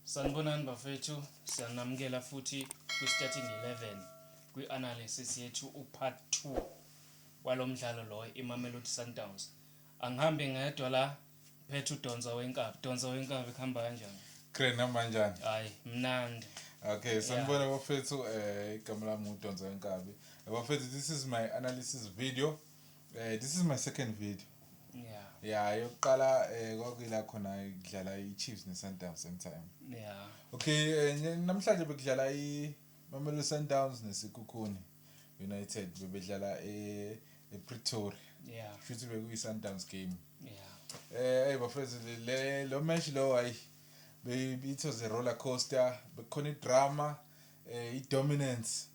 Sanibonani bafethu, siyanamukela futhi kwi-Starting 11 kwi-analysis yethu u-part 2 walo mdlalo lo iMamelodi Sundowns. Angihambi ngedwa la phethe uDonsa wenkabi. Donsa wenkabi kuhamba kanjani? Grand noma njani? Hayi mnandi. Okay, sanibona yeah. bafethu eh igama lami uDonsa wenkabi. Eh, bafethu this is my analysis video. Eh this is my second video. Yeah. Yeah, yokuqala eh kwakuyila khona kudlala iChiefs neSundowns same time. Yeah. Okay, eh, namhlanje bekudlala i Mamelodi Sundowns neSikhukhuni United bebedlala e ePretoria. Yeah. Futhi bekuyi Sundowns game. Yeah. Eh hey bafethu le lo match lo hayi it was a roller coaster bekhona idrama eh i dominance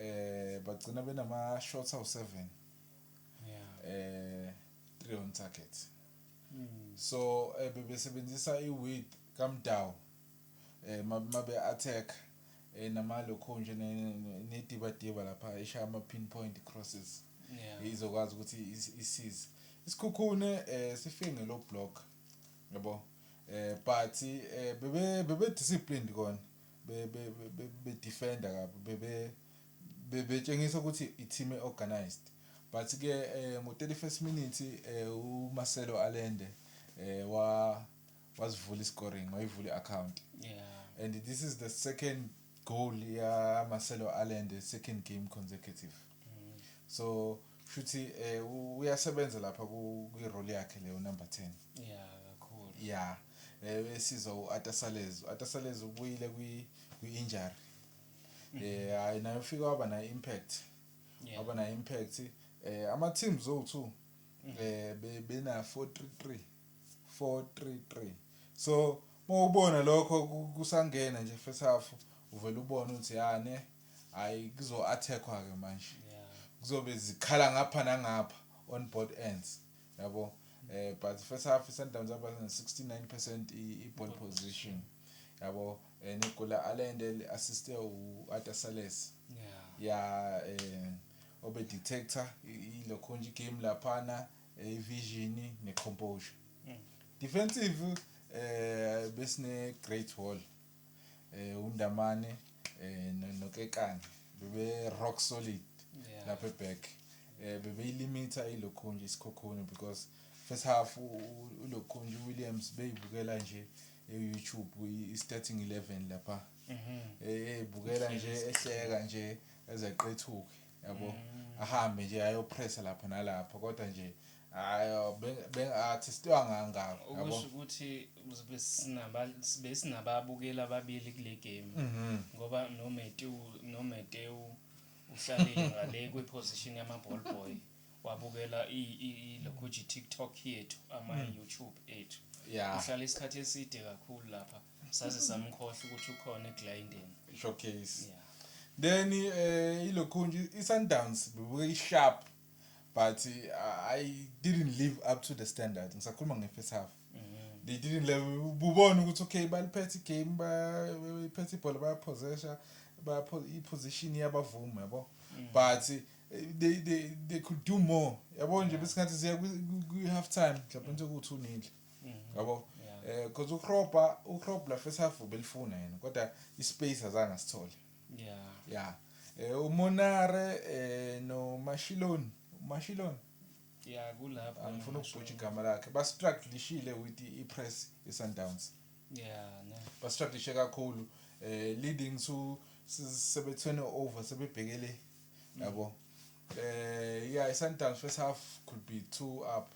Eh bagcina benama shots awu 7. Yeah. Eh 3 on target. Mm. So eh, bebesebenzisa i width kaMdawu eh mabe attack eh nama lokho nje nediba diba lapha eshaya ama pinpoint crosses. Yeah. Izokwazi ukuthi isize. Isikhukhune eh sifike ngelo block. Yabo. Eh but eh bebe bebe disciplined kona. be, be, be, be, be defender kabi bebe bebetshengisa ukuthi i team e organized but ke eh, ngo 31st minute eh, u Marcelo Allende eh, wa wasivula i scoring wayivula i account yeah and this is the second goal ya Marcelo Allende second game consecutive mm. so shuthi eh uyasebenza lapha kwi role yakhe leyo number 10 yeah kakhulu yeah eh sizwa uAtasalez uAtasalez ubuyile kwi kwi injury mm-hmm. eh hayi nayo ufika waba na impact waba na impact eh ama teams o2 mm-hmm. eh bena 433 433 so mawubona lokho kusangena nje first half uvela ubona ukuthi yane Hhayi kuzo attack-wa ke manje. Kuzobe zikhala ngapha nangapha on both ends yabo. Eh but first half iSundowns yaba ne 69 percent i ball position yabo eh, ne goal la Allende li assiste u Arthur Sales. Ya eh obe detector ilo khonje game laphana eh, vision ne composure. Mm. Defensive eh besine great wall. uNdamane noKekana bebe rock solid lapha eback eh bebeyilimita ilokhunje isikhokhuni because first half ulokhunje uWilliams beyibukela nje e-YouTube i-starting 11 lapha mhm. eh bukela nje ehleka nje ezeqethuke yabo mm. ahambe nje ayopressa lapha nalapha kodwa nje ayo bengathi sitwa ngangako yabo ukuthi sinaba besinababukeli ababili kule game mhm. ngoba no Matthew no Matthew uhlalile ngale kwi position yama ball boy wabukela i lokho TikTok yethu ama mm. YouTube ethu yeah uhlala isikhathi eside kakhulu lapha saze samkhohlwa ukuthi ukhona eGlyndeni showcase yeah then eh ilokhunje iSundowns bebuke iSharp but uh, I didn't live up to the standard ngisakhuluma ngefirst half mm-hmm. they didn't level ubona ukuthi okay baliphethe igame bayiphethe ibhola bayapossession bapho iposition yabavumi yabo mm. but eh, they they they could do more yabo nje besingathi siya kwi half time mhlawumbe nje ukuthi unile Mm-hmm. yabo eh because ukrobha ukrobha first half ubelifuna yena kodwa ispace azange sithole yeah yeah eh umonare eh no mashilon mashilon yeah kulapho angifuna ukubhutsha igama lakhe ba strugglishile with i press i sundowns yeah no ba strugglishe kakhulu eh leading to sebethwene over sebebhekele yabo mm. eh yeah i sundowns first half could be two up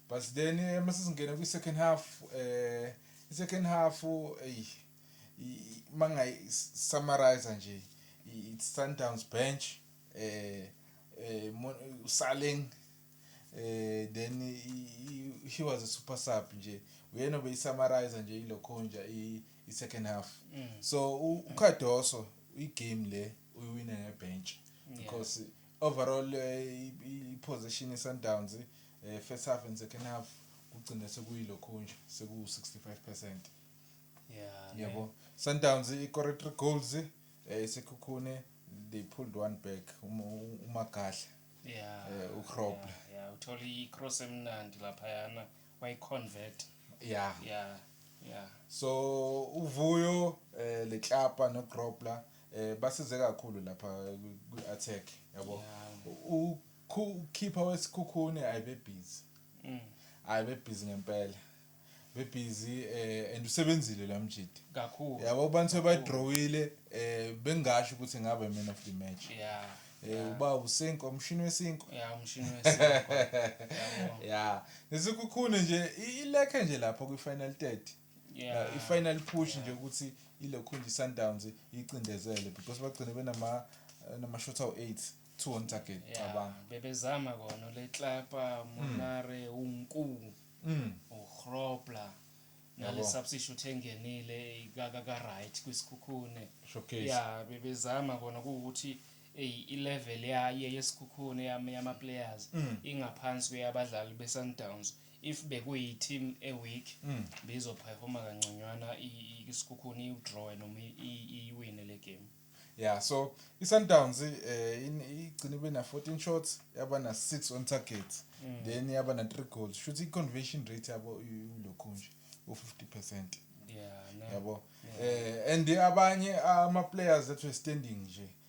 but then eh, uma sesingena kwi-second half eh i-second half eyi mangayi-summarize nje i-sundowns bench eh eh usaleng eh then he was a super sub nje uyena obeyisummarize nje ilokho nje i-second half mm. so ucardoso igame le uyiwine ngebench because yeah. Overall iposition yeSundowns first half and second half kugcina sekuyilokhunja sekuwu 65 percent yeah yebo Sundowns ikore 3 goals eh sekhukhune they pulled one back umagahle yeah eh, ukrobla yeah, yeah uthola icross emnandi lapha yana wayiconvert yeah yeah yeah so uvuyo eh leklapa nokrobla eh basize kakhulu lapha kwi-attack yabo ukhipha wesikhukhune ayibebhizi mm. hayi bebhizi ngempela bebhizi eh and usebenzile la mjidi kakhulu yabo abantu sebadrawile eh bengasho ukuthi ngabe man of the match yeah eh uba usinko umshini wesinko yeah umshini wesinko yeah nesikhukhune nje ilekhe nje lapho kwi final 30 yeah. uh, i-final push yeah. nje ukuthi ilokhunje i-sundowns iyicindezele because bagcine benamashot eh, awu-eight two on target cabanga bebezama kona letlapa hmm. monare mm. unku mm. uhrobla nale substitute engenile ikaka ka right kwisikhukhune showcase ya bebezama kona ukuthi i-level yaye yesikhukhune yama players mm. ingaphansi kweyabadlali be-sundowns if bekuyi team e weak bizo performa kangconywana isikhukhuni iwu draw noma iyiwine le game yeah so iSundowns eh igcine bena 14 shots yaba na 6 on target mm. then yaba na 3 goals shuthi iconversion rate yabo ulokhu nje u 50% yeah no. yabo eh and abanye ama players that were standing nje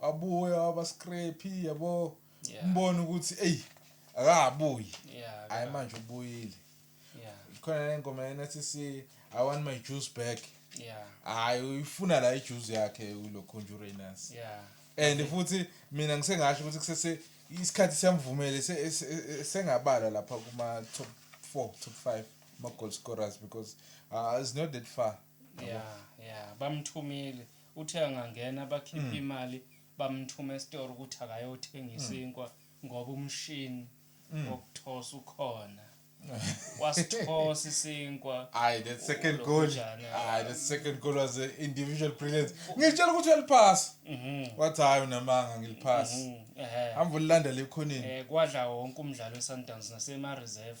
wabuya waba scrappy yabo yeah. mbone ukuthi eyi akabuyi yeah, hayi manje ubuyile yeah. khona le ngoma yena sithi i want my juice back yeah. hayi uyifuna la ijuice yakhe ulo conjurenance yeah. and okay. futhi mina ngisengasho ukuthi kusese isikhathi siyamvumele sengabala lapha kuma top 4 top 5 ma goal scorers because uh, it's not that far yeah yeah bamthumile uthe angangena bakhiphe imali bamthume esitoro ukuthi akayothenga isinkwa ngoba umshini wokuthosa ukhona wasithosa isinkwa Ayi that second goal. Ulokujana. Ayi that second goal was a individual brilliance. Ngitshela ukuthi uyaliphasa. Mhm, Wathi hayi unamanga ngiliphasa. mhm, ehe. Hamba ulilanda lekhoneni. Eh, kwadla wonke umdlalo we-sundowns nasema-reserve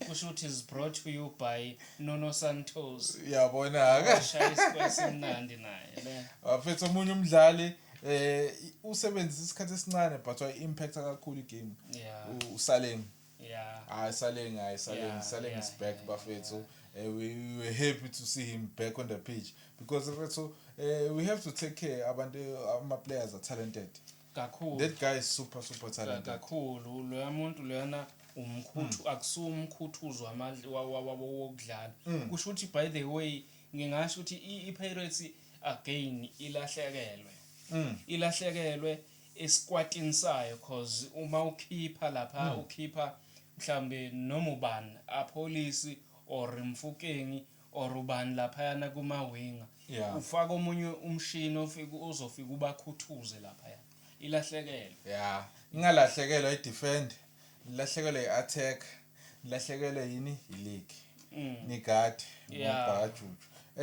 Kushuthi is brought to you by Nuno Santos. Yabona ke. Shaya isikwesi simnandi naye le. Waphetha omunye umdlali eh usebenzisa isikhathi esincane but wa impact kakhulu igame. Yeah. Usaleng. Yeah. Hayi Saleng, hayi Saleng, Yeah, Saleng yeah, is back yeah, bafethu. Eh, we, we were happy to see him back on the pitch because bafethu eh, we have to take care abantu ama players are talented. Kakhulu. That guy is super super talented. Kakhulu loya muntu loyana umkhuthu mm. akusuwa umkhuthuzo wamandla wokudlala. Mm. Kusho ukuthi by the way ngingasho ukuthi iPirates again ilahlekelwe. Mm. Ilahlekelwe esikwatini sayo cause uma ukhipha lapha mm. ukhipha mhlambe noma ubani apolice or mfukengi or ubani laphayana kuma winger yeah. ufaka omunye umshini ofika ozofika ubakhuthuze laphaya ilahlekelwe yeah ingalahlekelwa i defend ilahlekelwe i attack ilahlekelwe yini i league mm. ni guard yeah.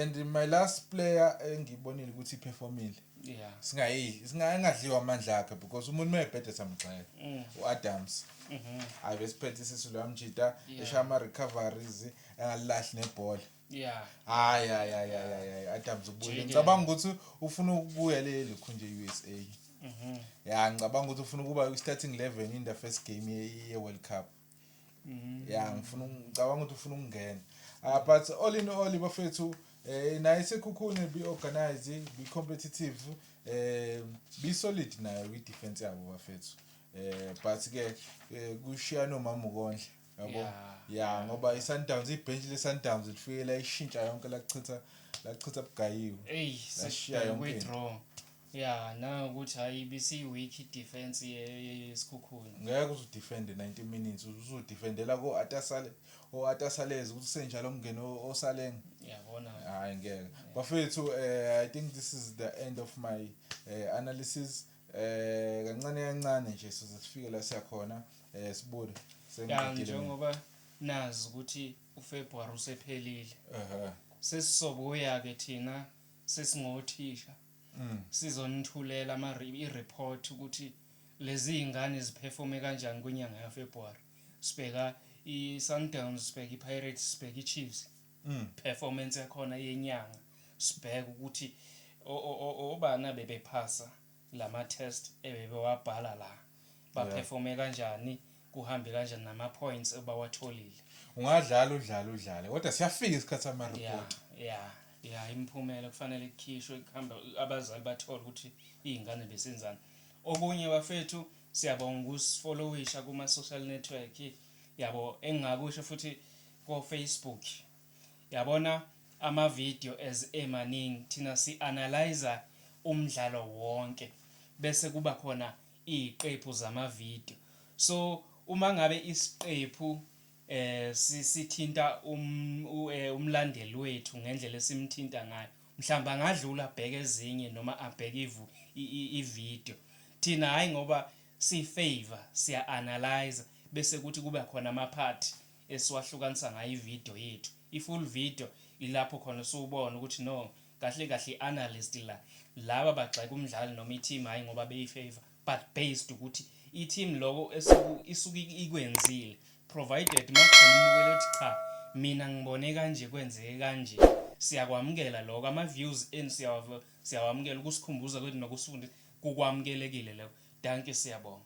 and my last player engibonile ukuthi iperformile yeah singayi singayengadliwa amandla akhe because umuntu mayebhede samgxeka mm. uAdams mhm hayi besiphethe isisu lamjita eshaya ama recoveries engalilahle nebhola yeah hayi hayi hayi hayi hayi adams ubuye ngicabanga ukuthi ufuna ukubuya leli khunje e-usa mhm. ya ngicabanga ukuthi ufuna ukuba i-starting eleven in the first game ye-world cup mhm. ya ngifuna ngicabanga ukuthi ufuna ukungena ah, but all in all bafethu um eh, naye sekhukhune bi-organize bi-competitive um bi-solid nayo kwi-defense yabo bafethu um but-ke um eh, kushiyana umama ukondla yabo yeah, yeah, ngoba yeah. i-sundowns ibhenshi le-sundowns lifike layishintsha yonke lakuchitha lakuchitha bugayiwe eyi sashiya yonke draw ya nangokuthi hhayi bisiyi-weak i-defense yesikhukhuni ngeke uze udefende 90 minutes uze udefendela ko-atasale o-atasalez ukuthi senjalo mngeni osaleng yabona hhayi ngeke bafethu um i think this is the end of my uh, analysis Eh kancane kancane nje size sifike la siya khona eh sibude sengigile njengoba nazi ukuthi uFebruary usephelile. Ehhe. Sesizobuya ke thina sesingothisha. Mm. Sizonithulela ama report ukuthi lezi zingane ziperforme kanjani kwinyanga yaFebruary. Sibheka iSundowns, sibheka iPirates, sibheka iChiefs. mm. performance yakhona yenyanga sibheke ukuthi obani abebephasa lama test ebebewabhala la baperforme kanjani kuhambe kanjani nama points ebawatholile ungadlala udlala udlale kodwa siyafika isikhathi sama report yeah, yeah. ya imiphumela kufanele ikhishwe kuhamba abazali bathole ukuthi iy'ngane besenzani okunye bafethu siyabonga ukusifollowisha kuma-social network yabo engingakusho futhi ko Facebook yabona ama video as emaningi thina si analyser umdlalo wonke bese kuba khona iyiqephu zama video so uma ngabe isiqephu eh sithinta um, eh, umlandeli wethu ngendlela esimthinta ngayo mhlawumbe angadlula abheke ezinye noma abheke ivu ivideo thina hayi ngoba siyifavor siya-analyze bese kuthi kube khona amaphathi esiwahlukanisa ngayo ivideo yethu i full video ilapho khona usuwubona ukuthi no kahle kahle i analyst la laba bagxeka umdlali noma i team hayi ngoba beyi favor but based ukuthi i team loko esuku isuke ikwenzile provided makukhona umukelo ukuthi cha mina ngibone kanje kwenzeke kanje siyakwamukela lokho ama views enu siyawamukela ukusikhumbuza kwethu nokusifundisa kukwamukelekile lokho dankie siyabonga